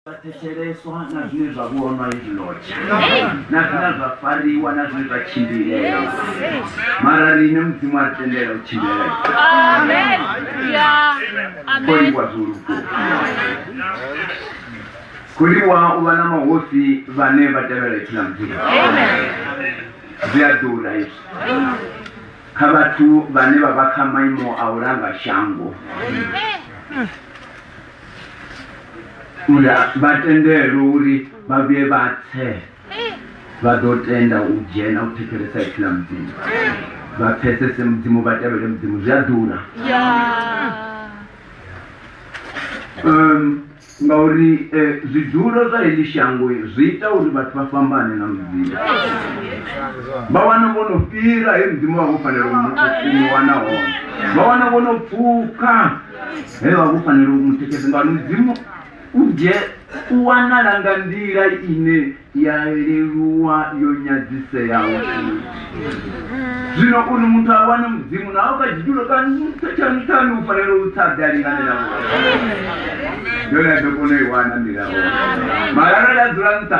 vha thetsheleswa na zwine zwa vhonwa izwi lotsha na zwine zwa fariwa na zwine zwa tshimbilela mara rine mudzimu a ri tendela u tshimbilela koliwa zwoluko koliwa u vha na mahosi vhane vha tevhela ipfi la mudzimu zwi a ḓura izwi kha vhathu vhane vha vha kha maimo a u langa shango uri vha tendelwe uri vha vhuye vha tse vha ḓo tenda u dzhena u thetshelesa ipfi ḽa mudzimu vha pfesese mudzimu vha tevhele mudzimu zwi a ḓura um ngauri eh, zwidulo zwa heḽi shango zwi ita uri vhathu vha fhambane na mudzimu vha wana vho no fhira he mudzimu vha vho fanela u mu- u mu wana hone vha wana vho no pfuka he vha vho fanela u mu tikedza ngauri mudzimu u dzhe u wanala nga nḓila ine ya leluwa yo nyadziseaho zwino uri muthu a wane mudzimu naho kha tshitulo kantshanuthanu u fanela u tsa dali nga nḓila yone a ḓo kona u i wana nḓila hone mara arali a dzula nṱha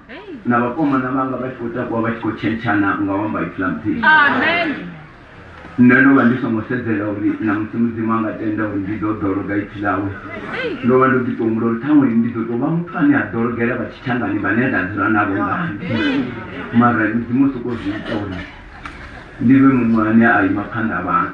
na vakomana vanga va tshi khou takuwa vha tshi khou tshentshana nga u amba ipfula mudzimu nṋe ndo vha ndi songo sedzela uri na musi mudzimu a nga tenda uri ndi ḓo ḓologa ipfi ḽawe ndo vha ndo ḓi tou humbula uri ṱhaṅwe ndi ḓo tou vha muthu ane a ḓologela vha tshitshangani vhane nda dzula navho ngani mara mudzimu o sokou zwi ita uri ndi vhe muṅwe ane a ima phanḓa vhathu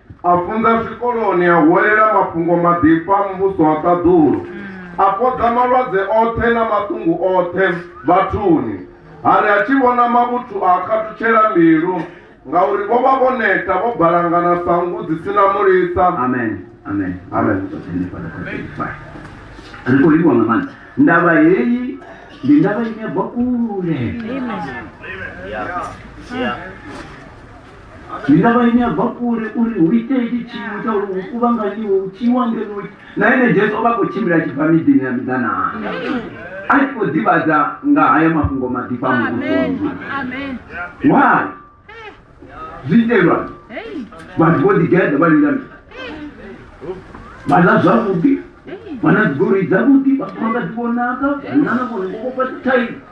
a funza zwikoloni a huwelela mafhungo maḓifha muvhuso wa ṱaḓulu a fhodza malwadze oṱhe na maṱungu oṱhe vhathuni ha ri a tshi vhona mavhuthu a khathutshela mbilu ngauri vho vha vho neta vho balangana sa nngu dzi si na mulisa amen amen amen ri khou livhiwa nga maanḓa ndavha heyi ndi ndavha ine bva kule ndavha ine ya bva kule uri hu ite itshi tshiimo tsha uri hu kuvhanganyiwe hu tshiiwa ngenoi na ene jesu o vha khou tshimbila a tshi bva miḓini ya miḓanaa a tshi khou ḓivhadza nga haya mafhungo maḓifha a muvhusoni why zwi itelwa vhathu vho ḓigeḓa vha lila mi vha ḽa zwavhuḓi vha na dzigoloi dzavhuḓi vha famba nga dzi vhonaka vhunana vhone vho vhofha thaidzo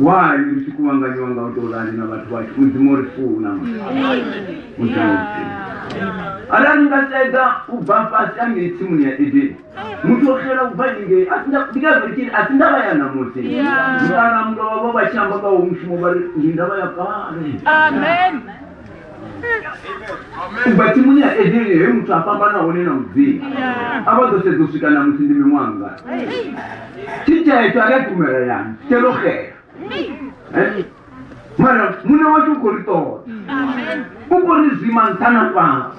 why ri tshi kuvhanganyiwa nga u tou rali na vhathu vhashu mudzimu o ri funa mudzimu o ri funa arali nga sedza u bva fhasi angei tsimuni ya edeni muthu o xela u bva ingei ndi ngazvo tshiri a si ndava ya namusi mara mulovha vho vha tshi amba nga wo mushumo vha ri ndi ndava ya kale ubva tsimuni ya edeni he muthu a fhambana hone na mudzimu a vha ḓo sedza u swika na musi ndi miṅwanga tshitshetsho a ri a tumela yani tshitshelo xela mara muṋe washu u khou ri ṱoḓa u khou ri zwima nṱha na fhasi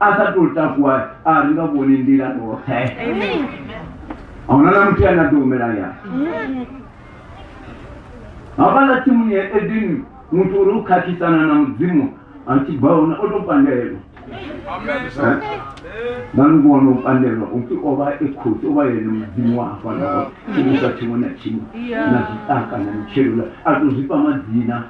a sa tou takuwa a ri nga vhoni nḓila ṱoṱhe a huna na muthu ane a ḓo humela ya havhala tsimuni ya edeni muthu uri u khakhisana na mudzimu a tshi bva hone o tou pandelwa nganubona u pandelwa upfi o vha e khosi o vha yene mudzimu wa hafhanaa tshimusa tshiṅwe na tshiṅwe na zwiṱaka na mitshelo a tou zwifha madzina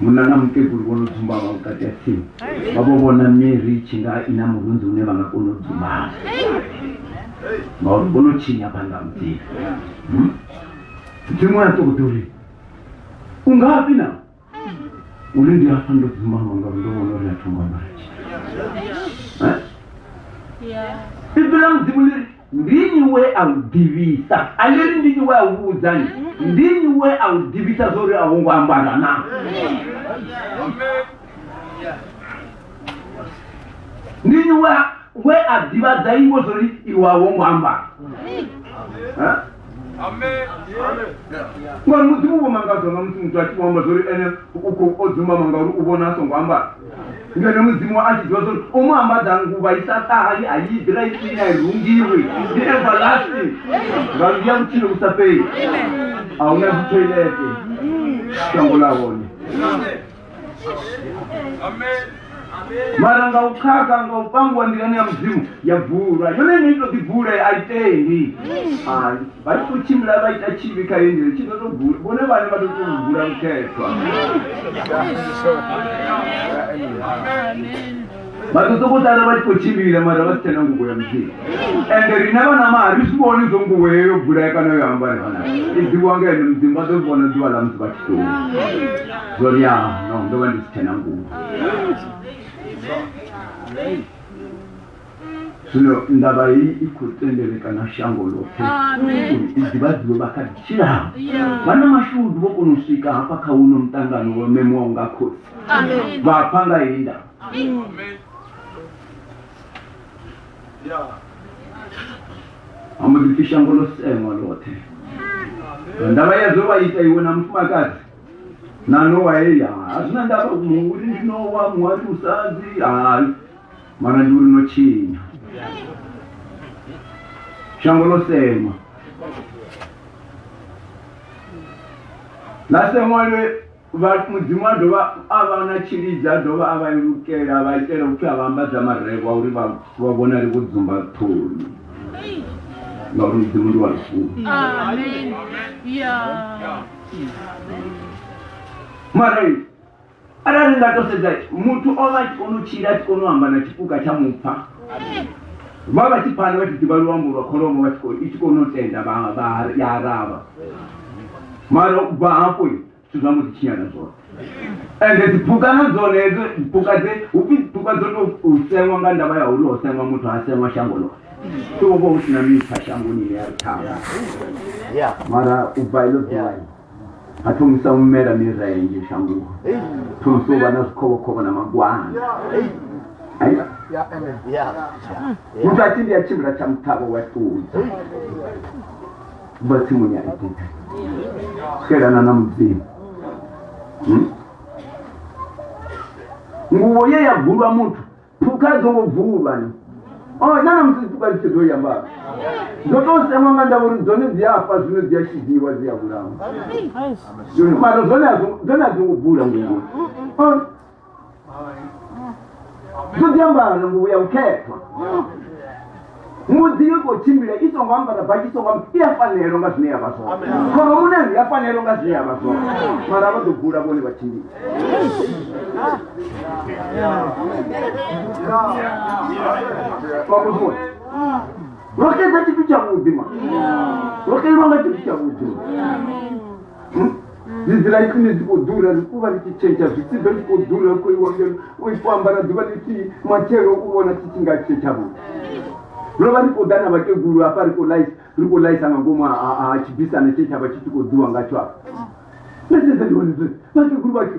munna na mukegulu vho no dzumbavha vhukati ha tsimu vha vho vhona mary tshi nga i na murunzi une vha nga kona u dzumbavha ngauri vho no tshinya phanḓa mudzimu hmm? mudzimu ya ṱoḓa uri u ngafhi na uri ndi afha ndo dzumbavha ngauri ndo vhona uri a thongo ambara tshithu eh? ibvela mudzimu liri Ndi nnyi we a u ḓivhisa? A ḽi ri ndi nnyi we a u vhudzani? Ndi nnyi we a u ḓivhisa zwo ri a wo ngo ambara na? Ndi nnyi we a ḓivhadza iwe zwo ri iwe a wo ngo ambara? ngori mudzimu vho mangadzwa nga musi muthu a tshi vhoamba zwa uri ene u khou o dzumama ngauri u vhona a songo ambara ngeno mudzimu a tshi ḓiwa zwa uri o mu ambadza nguvha i sa ṱahali a yi ḓira isini a i rungiwi ndi everlasting nga ndi ya vhutshilo vhu sa fheli a huna dzithoilete shango ḽa hone mara nga u khakha nga u pangiwa nḓilani ya mudzimu ya vulwa yone ine ito ḓi vula a i tendi ai vha tshi to tshimbila vha ita tshivhi kha yendele tshi ḓo to vula vhone vhane vha to to vula mukhethwa vha ḓo sokou sala vha tshi khou tshimbila mara vha si tshena nguvo ya mudzimu ende rine vhana maha ri si vhoni zwo nguvo yeyo yo bulaya kana yo ambare vhana i ḓiwa nga ene mudzimu vha ḓo vhona ḓuvha ḽa musi vha tshi tou zwo ri ya no ndo vha ndi si tshena nguvo zwino ndavha hei i khou tendelekana shango ḽoṱhe uri i ḓivhadziwe vha kha ḓi tshilaho vhana mashudu vho kona u swika hafha kha uno muṱangano wo memuwaho nga khosi Amen. vhafa nga heyi ndavha amudipfi shango ḽo seṅwa ḽoṱhe nga ndavha ya zwe wa ita iwe na mufumakadzi na nowa heya a zwi na ndavha mu- uri ndi nowa muhali musadzi hayi mara ndi uri no tshinya shango ḽo seṅwa ḽa seṅwa lwe Vha- mudzimu a dovha a vha na tshilidzi a dovha a vha ilukela a vha itela upfi a vha ambadza marevha uri vha vha vhonale vho dzumba ṱhoni ngauri mudzimu ndi wa lufuno Amen. Yeah. mara arali ni nga to sedza muthu o vha a tshi kona u tshila a tshi kona u amba na tshipuka tsha mupfa vha vha tshi pfana vha tshi ḓivha luambo lwa kholomo vha tshi kho- i tshi kona u tenda vha- vha- ya araba mara u bva hafho zwithu zwa mbo ḓi tshinyala zwoṱhe ende dziphukha na dzone hedzo phukha dze hupfi phukha dzo to sengwa nga ndavha ya uri ho sengwa muthu ha sengwa shango loṱhe so uvha hu sina mipfa shangoni ine ya rithawa mara u bva ilo ḓuvha ha thomisa u mela mirenje shangoni thomisa u vha na zwikhovhokhovho na magwana muthu a tshi ndi a tshimbila tsha muṱhavho wa ṱudza vha tsimuni ya edeni xelana na mudzimu hmm? nguvo ye ya bvulwa muthu phukha dzo ngo bvulwa ni o oh, nana musi phukha dzi tshi dzo ya mbalo dzo to semwa nga ndavha uri dzone dzi a fa zwino dzi a shidiwa dzi a vhulawa mara dzone a dzo ngo bvula nguvo zodi ambara na nguvu ya mkhethwa mudzi yo khou tshimbila i songo ambara baki i songo i ya fanelo nga zwine ya vha zwone khoromunani ya fanelo nga zwine ya vha zwone mara vha ḓo bula vhone vha tshimbila vhakuziwe rokedza tshithu tshavhuḓi ma rokelwa nga tshithu tshavhuḓi ḽivi ḽa ikhwine dzi khou ḓura ri kuvha ḽi tshi tshetsha zwisiḓo tshi khou ḓura ri khou iwa ngeno u i fhambana ḓuvha ḽithihi matshelo u vhona tshi tshi nga tshetsha vho ro vha ri khou ḓa na vhakegulu hafha ri khou laisa ri khou laisa nga ngomu ha tshibisana tshe tsha vha tshi tshi khou ḓiwa nga tsho afha nda sedza ndi hone vhakegulu vhashu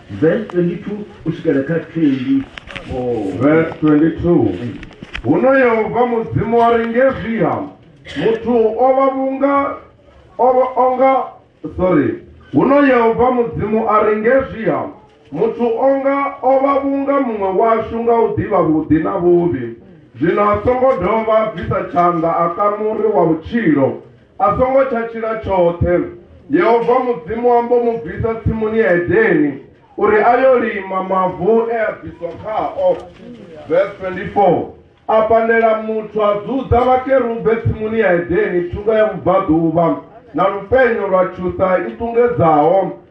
Verse 22 u swikela kha 24. Verse 22 Huno Yehova Mudzimu wa ri ngezwiha muthu o vha vhunga o vha onga sorry huno Yehova Mudzimu a ri ngezwiha muthu onga o vha vhunga muṅwe washu nga u ḓivha vhuḓi na vhuvhi zwino a songo dovha bvisa tshanḓa a kamuri wa vhutshilo A songo tsha tshila tshoṱhe. Yehova Mudzimu a mbo mu bvisa tsimuni ya Edeni uri a yo lima mavu e a bviswa khao. Verse 24 A pandela muthu a dzudza vhakerube tsimuni ya Edeni thungo ya vhubvaḓuvha na lupenyo lwa tshuṱa i ṱungedzaho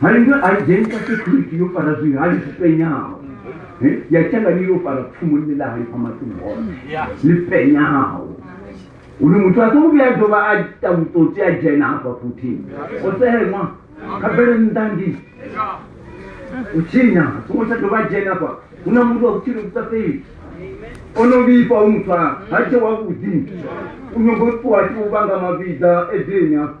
hari nga a dzheni ka security yo fara zwi hali zwi penyaho eh, ya tshanga ni yo fara pfumo ni la hali pama tu ho ni penyaho uri muthu a songo vhuya dovha a ita vhutsotsi a dzhena hafha futhi o seheṅwa kha bele nnḓa ndi u tshinya a songo tsha dovha a dzhena hafha hu na muthu wa vhutshilo vhusa fheli o no vhifha u muthu a ha tshe wavhuḓi u nyongo ṱuwa tshi u vhanga mavhidza edeni hafha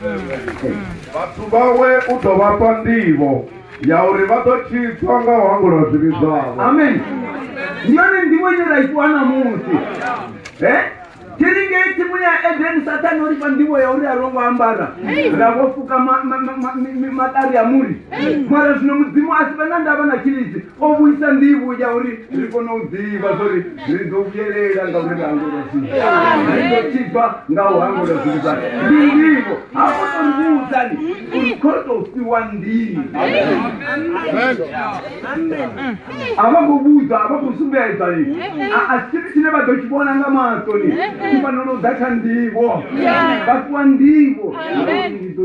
vhathu vhawe u ḓo vha fha nḓivho ya uri vha ḓo tshitswa nga u hangula zwivhi zwavho amen ndi yone nḓivho ine ra ifhiwa ṋamusi e tiri ngei tsimuni ya edeni sathane o ri fha nḓivho ya uri a ro ngo ambara ra vho fuka maṱari a muri mara zwino mudzimu a si vhe na ndavha na tshilidzi o vhuisa nḓivho ya uri ri kone u ḓivha zwori ri ḓo vhuyelela nga uri ri hangula zwithu ri ḓo tibva nga u hangula zwithu zwae ndi nḓivho ha ko to ri vhudzani uri kho to fhiwa nḓivho a vha khou vhudzwa a vha khou sumbedza ni a si tshithu tshine vha ḓo tshi vhona nga maṱo ni i fanela u ḓa kha nḓivho vha fhiwa nḓivho ndi ḓo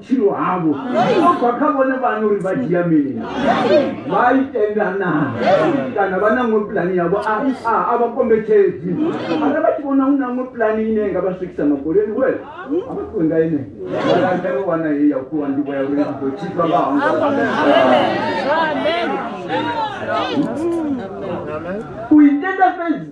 vhutshilo havho zwo bva kha vhone vhane uri vha dzhia mini vha i tenda na kana vha na ṅwe pulani yavho a a- a vha kombetshedzi ara vha tshi vhona hu na ṅwe pulani ine nga vha swikisa makoleni we a vha ṱuwe nga ine vhalandelo wana ye ya kuwa ndivho ya uri ndi ḓo tshisa vha hangwa u itenda fhedzi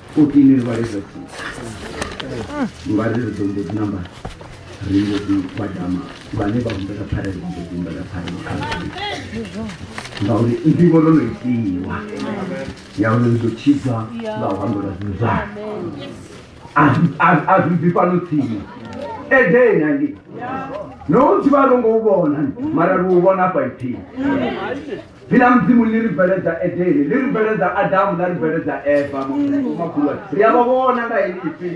14 ri vhalisa ngari ri ḓo mbo ḓi namba ri mbo ḓi badama vhane vha humbela pfarelo vha mbo ḓi humbela pfarelo kha ngauri ndivho ro no itiwa ya uri ri ḓo tshidzwa nga u hambela zwithu zwa a zwi bvi fhano tsini edeni angi no u dzivha ro ngo u vhona mara ri u vhona afha ipfini dzina ḽa mudzimu ḽi ri bveledza edeni ḽi ri bveledza adamu ḽa ri bveledza eva makhulu ri a vha vhona nga heḽi ipfi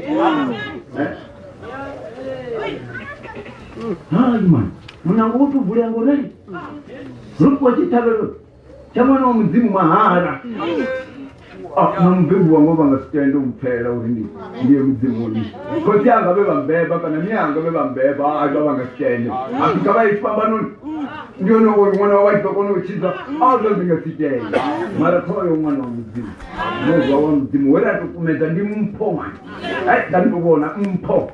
haimani munango wo tou vulea ngorali ro fhiwa tshiṱhavhelo tsha mwana wa mudzimu mahala na mubebi wanga vha nga si tende u mpfela uri ndi ndi ye mudzimuni khotsi anga vhe vha mbeba kana mi anga vhe vha mbeba a vha vha nga si tende a si ka vha ye tshifhambanoni ndi hone uri ṅwana wa vha tshi ḓo kona u tshidza a zwo ndi nga si tende mara kha vha yo ṅwana wa mudzimu muzwa wa mudzimu we ra to kumedza ndi mpho ṅwana ai da ndi to vhona mpho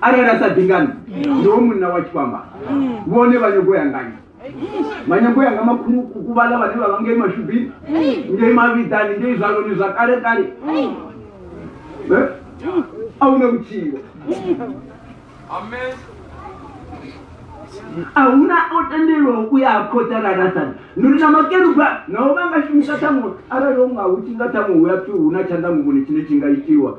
arali a sa bingani ndi wo munna wa tshifhamba vhone vha nyago ya ngani vha nyago yanga makhulukuku vhala vhane vha vha ngei mashubini ngei mavhidzani ngei zwaloni zwa kale kale Eh? a huna vhutshilo a huna o tendelwaho u ya ha khothe arali a sani nduri na makeruba naho vha nga shumisa ṱhaṅwe arali o nga hu tshi nga ṱhaṅwe hu ya pfi hu na tshanḓa muvhoni tshine tshi nga itiwa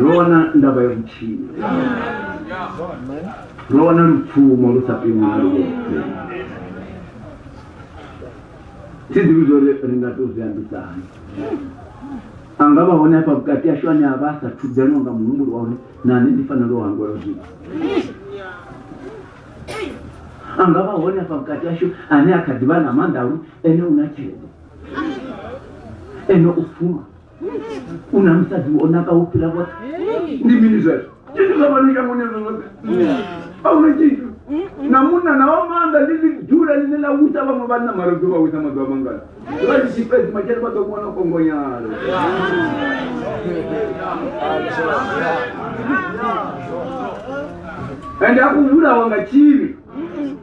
ro wana ndavha ya vhutshilo ro wana lupfumo lu sa pimiwi na lwoṱhe thi ḓivhi zwo ri ri nga tou zwi ambisa hani a nga vha hone afha vhukati ashu ane a vha a sa thudzelwa nga muhumbulo wa uri nane ndi fanela u hangwela zwithu a nga vha hone afha vhukati ashu ane a kha ḓivha na maanḓa a uri ene u na tshelede ene u fuma una musadzi wo naka wo fhira vhoṱhe ndi mini zwezwo tshithu zwa vhano shangoni ezwo zwoṱhe auna tshithu na munna na wa maanḓa ndi ḽidula ḽine ḽa wisa vhaṅwe vhanna mara ḓo vha wisa maḓuvha mangana vha ndi tshi fhedzi matshele vha ḓo kuwana kongonyalo ende a kuvhulawa nga tshivhi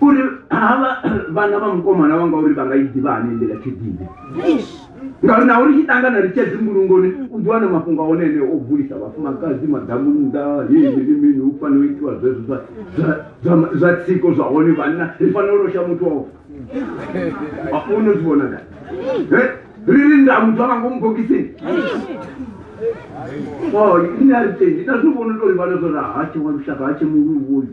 uri havha vhana vha mukomana wanga uri vha nga i ḓivha hani nḓila tshididi ngauri na uri tshi ṱangana ri tshia dzingulungoni u ḓi wana mafhungo a one ene o vulisa vhafumakadzi madamu nnḓa yeyini mini u fanela u itiwa zwezwo zwa tsiko zwa hone vhanna ri fanela u losha muthu wao afuno zwi vhona da ri ri nda muthu anga ngomu bokisini o oh, ine a ri tendi na zwi vhona uri vhana zwo ra ha tshe wa lushaka ha tshe muluwoyu